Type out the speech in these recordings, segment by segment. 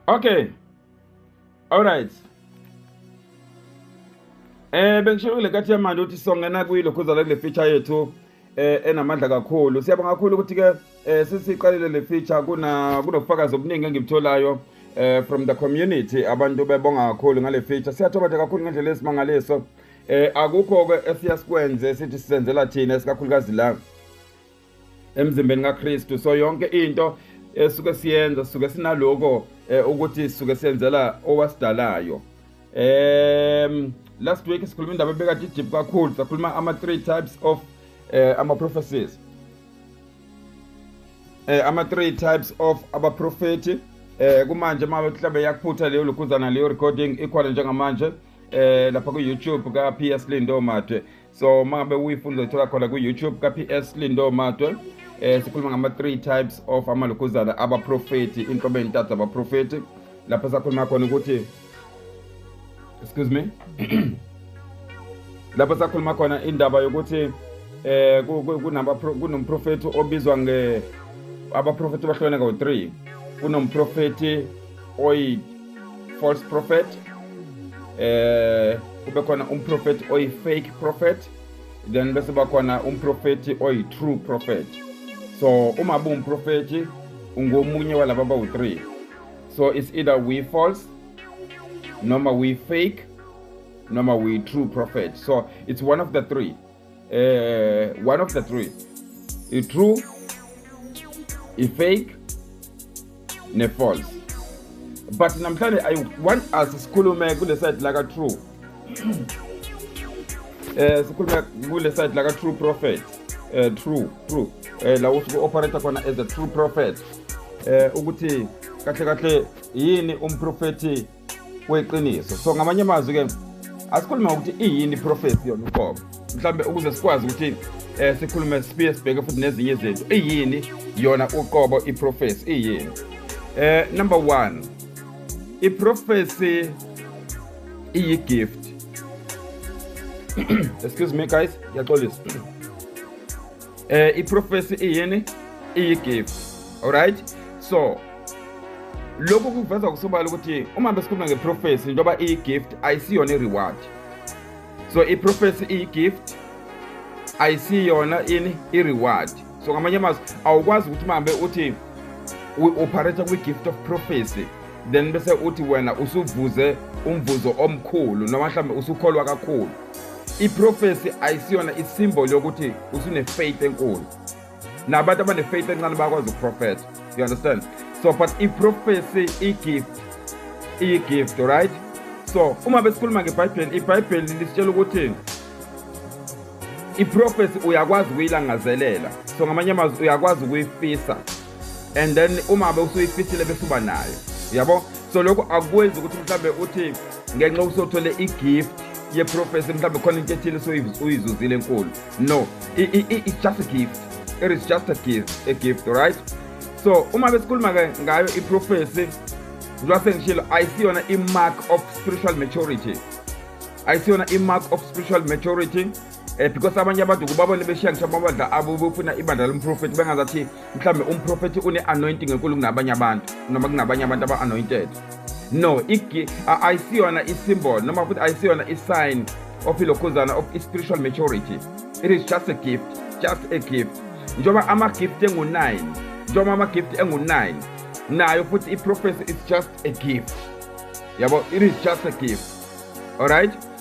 okay all right eh bengisho kule kathi yamanje ukuthi songena kuyilo khuzala kule feature yethu eh enamandla kakhulu siyabonga kakhulu ukuthi ke eh sisiqalile le feature kuna kunofakazi obuningi engibtholayo eh from the community abantu bebonga kakhulu ngale feature siyathoba nje kakhulu ngendlela esimangaliso eh akukho ke esiyasikwenze sithi sisenzela thina esikakhulukazi la emzimbeni kaKristu so yonke into esuke siyenza suke sinaloko eh, ukuthi suke senzela owasidalayo um last week sikhuluma indaba ebekade ijip kakhulu sakhuluma ama-three types of eh, ama-prophecies eh, ama-three types of abaprofethi eh, kumanje uma mhlawumbe yakuphutha leyo lukhuzana leyo recording ikhona njengamanje eh, lapha ku-youtube ka-ps lindo madwe so uma ngabe uyifuna uzoyithola khona ku-youtube ka-ps lindo matwe eh sikhuluma ngama three types of amalukuzana abaprofeti inhlobo ezintathu abaprofeti lapho sakhuluma khona ukuthi excuse me lapho sakhuluma khona indaba yokuthi eh kunaba kunomprofeti obizwa nge abaprofeti bahlukene ngo 3 kunomprofeti oyi false prophet eh kube khona umprofethi oyi-fake prophet then bese bakhona umprofethi oyi-true prophet so uma buwumprofethi ungomunye walaba bawu-three so it's either we false noma we fake noma we true prophet so it's one of the three eh one of the three i true i fake ne false but namhlanje i want us sikhulume kule side la ka true eh sikhulume kule side la ka true prophet eh true true eh la usuke operator khona as a true prophet eh ukuthi kahle kahle yini umprofethi weqiniso so ngamanye amazwi ke asikhulume ngokuthi iyini iprofesi yona uqobo mhlawumbe ukuze sikwazi ukuthi um sikhulume siphinde sibheke futhi nezinye izinto iyini yona uqobo iprofesi iyini um number one iprofesi iyigift excuse me guys yaxolisa eh iprofesi iyini iyigift alright so lokhu kuveza kusobala ukuthi uma besikhuluma ngeprofesi njengoba iyigift ayisiyona ireward so iprofesi iyigift ayisiyona ini ireward so ngamanye amazwi awukwazi ukuthi uhambe uthi u-operator kwi-gift of prophecy then bese uthi wena usuvuze umvuzo omkhulu noma mhlawumbe usukholwa kakhulu iprofesi ayisiyona isimboli yokuthi usune-faith enkulu nabantu abane-faith encane bakwazi ukuprofetha you understand so but iprofesi i-gift iyi-gift right so uma besikhuluma ngebhayibheli ibhayibheli lisitshela ukuthi iprofesi uyakwazi ukuyilangazelela so ngamanye amazwi uyakwazi ukuyifisa and then uma bewusuyifisile bese uba nayo yabo so lokho akwenzi ukuthi mhlawumbe uthi ngenxa usothole igift yeprofesi mhlawumbe khona into ethile soyizuzile enkulu no it's just a gift it is just a gift a gift right so uma besikhuluma-ke ngayo iprofesi njengoba sengishilo ayisiyona i-mark of spiritual maturity ayisiyona i-mark of spiritual maturity um because abanye abantu kubabone beshiya ngisho amabandla abo befuna ibandla lomprofethi bengazathi mhlawumbe umprofethi une-anointing enkulu kunabanye abantu noma kunabanye abantu aba-anointed no ayisiyona isimbol noma futhi ayisiyona isign of ilokhuzana of i-spiritual maturity it is just a gift just a gift njengoba ama-gift engu-9 njengoba ama-gift engu-9 nayo futhi i-prophecy is just a gift yabo it is just a gift alright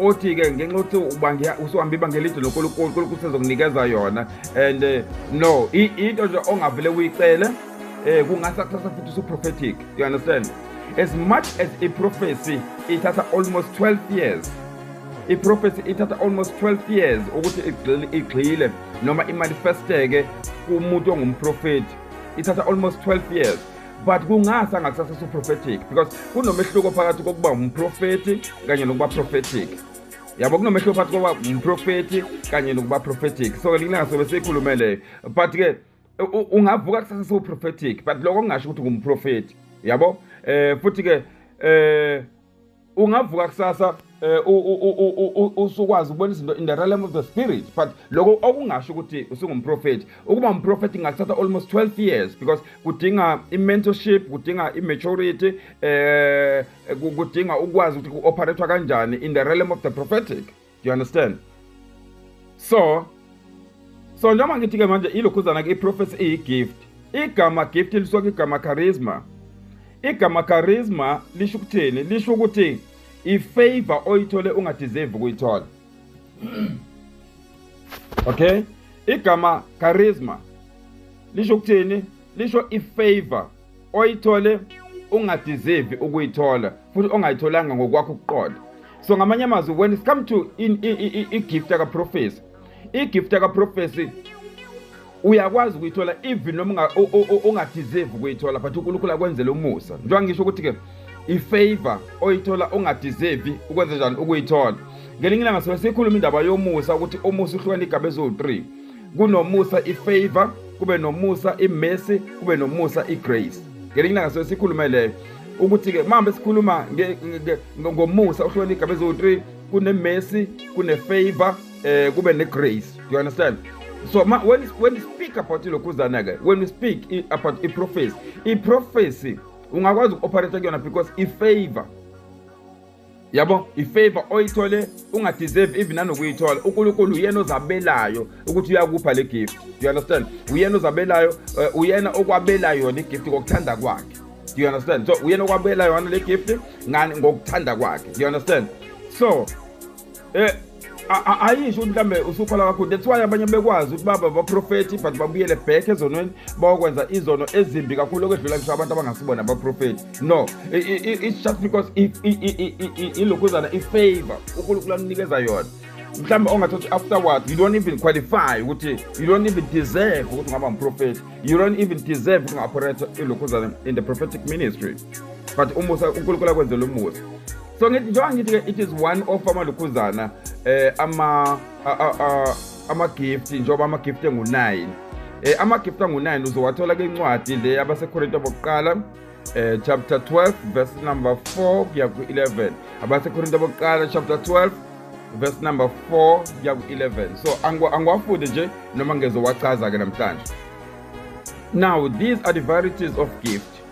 othi ke ngenxa yokuthi ubange usuhambe ibanga elide nonkulunkulu nkulunkulu sezokunikeza yona and eh, no i- into nje ongavele uyicele um kungasa kusasa futhi usuprophetic you understand as much as iprofesi ithatha almost 12 years iprofesi ithatha almost 12 years ukuthi igxile- igxile noma imanifesteke kumuntu ongumprofethi ithatha almost 12 years but kungase angakusasa suprophetic because kunomehluko phakathi kokuba umprofethi kanye nokuba prophetic yabo kunomehluko phakathi kokuba umprofethi kanye nokuba prophetic so lilanga sobe siyikhulume leyo but ke ungavuka kusasa sewuprophetic but loko kungasho ukuthi ngumprofethi yabo um futhi ke um ungavuka kusasa eh, usukwazi ukubona izinto in the realm of the spirit but lokho okungasho ukuthi usungumprofethi ukuba umprofethi kungathatha almost 12 years because kudinga i-mentorship kudinga i-maturity eh kudinga ukwazi ukuthi ku-operathwa kanjani in the realm of the prophetic you understand so so njengoba ngithi-ke manje ilokhuzana-ke i-prophecy iyi-gift igama gift lisuke igama charisma igama charisma lisho ukuthini lisho ukuthi ifavor oyithole ungadeserve ukuyithola okay igama charisma lisho ukuthini lisho ifavor oyithole ungadeserve ukuyithola futhi ongayitholanga ngokwakho ukuqola so ngamanye amazwi when it come to i-gift yakaprofesi i-gift yakaprofesi uyakwazi ukuyithola even noma ungadeserve ukuyithola but unkulunkulu akwenzele umusa njengoba ngisho ukuthi-ke ifavor oyithola ungadeserve ukwenze njani ukuyithola ngelinye ilanga sobe sikhuluma indaba yomusa ukuthi umusa uhlukana igaba eziwu-three kunomusa ifavor kube nomusa imercy kube nomusa igrace ngelinye ilanga soye sikhulume leyo ukuthi-ke mambe sikhuluma ngomusa uhlukana igaba eziwu-three kunemercy kunefavor eh kube negrace do you understand so ma, when, when you speak about ilokhuzana-ke when you speak about iprofesi iprofesi ungakwazi uku-operate kuyona because ifavor yabo ifavor oyithole ungadeserve even nanokuyithola unkulunkulu uyena ozabelayo ukuthi uyakupha le gift you understand uyena ozabelayo eh, uyena okwabelayo yona igift ngokuthanda kwakhe do you understand so uyena okwabelayo yona le gift ngani ngokuthanda kwakhe do you understand so Eh ayisho ukuthi mhlambe usukhola kakhulu that's why abanye bekwazi ukuthi baba baprofethi but babuyele back ezonweni bawokwenza izono ezimbi kakhulu okwedlula ngisho abantu abangasibona abaprofethi no it's just because ilokhuzana ifavor unkulunkulu amnikeza yona mhlawumbe ongathi uthi afterwards you don't even qualify ukuthi you don't even deserve ukuthi ungaba mprofethi you don't even deserve ukuthi unga-operate ilokhuzana in the prophetic ministry but umusa unkulunkulu akwenzela umusa so ngithi njengoba ngithi ke it is one of amalukhuzana eh ama ama gift njengoba ama gift engu9 eh ama gift angu9 uzowathola ke incwadi le abaseKorinte bokuqala eh chapter 12 verse number 4 kuya ku 11 abaseKorinte bokuqala chapter 12 verse number 4 kuya ku 11 so angiwafunde nje noma ngezowachaza ke namhlanje now these are the varieties of gift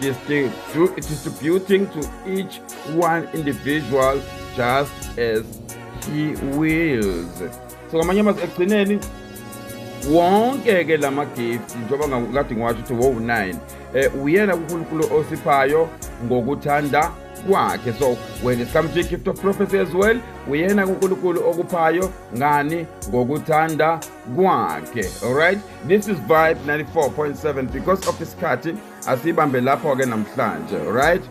distributing to each one individual just as he wills so ngamanye amazwi ekugcineni wonke-ke la magifti njengoba ngikade ngiwasho ukuthi wowu-9 um uyena kunkulunkulu osiphayo ngokuthanda kwakhe so when it comes to gift of prophecy as well uyena kunkulunkulu okuphayo ngani ngokuthanda kwakhe alright this is vibe 94.7 because of isikhathi asiyibambe lapho-ke namhlanje alright